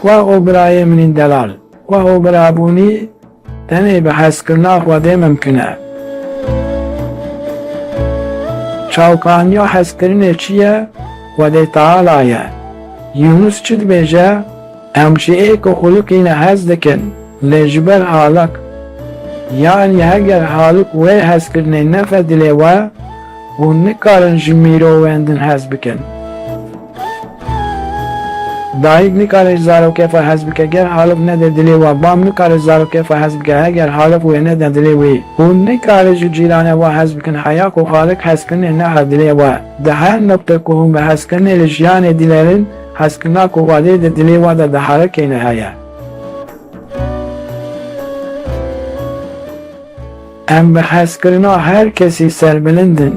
Wa û birayê min ên delal. Wa û birabûnî tenê bi hezkirina Xwedê mimkin e. Çavkaniya hezkirinê çi ye? Xwedê Teala ye. Yûnus çi dibêje? Em ji ê ku xulukîne hez dikin, lê ji ber halık. Yanî heger halık wê hezkirinê nefe dilê we, Hûn nikarin ji mîrovên din hez bikin. Dayik nikare ji zarokê xwe hez bike ger halok nede dilê we, bab nikare ji zarokê xwe hez bike heger halok wê nede dilê wî. Hûn nikarin ji cîranê we hez bikin heya ku xalik hezkirinê neha dilê we. Di her noqtê ku hûn bi hezkirinê li jiyanê dîlerin, hezkirina ku Xwedê di dilê we de diherekêne heye. Em bi hezkirina her kesî serbilind in.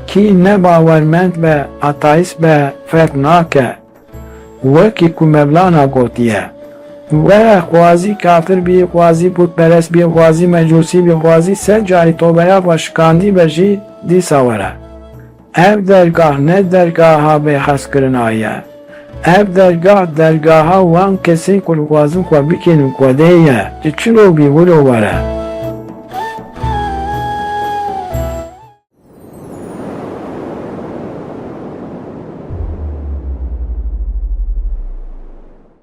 Kî ne bawermend be, ateîst be, fehm nake. Wekî ku Mevlana gotiye, Were xwazî kafir bî, xwazî pûtperest bî, xwazî mecûsî bî, xwazî sed carî tobeya xwe şikandî be jî, dîsa were. Ev dergah ne dergaha bêhezkirina ye. Ev dergah dergaha wan kesên ku dixwazin xwe bikênin xwedê ye. Tu çilo bî wilo were.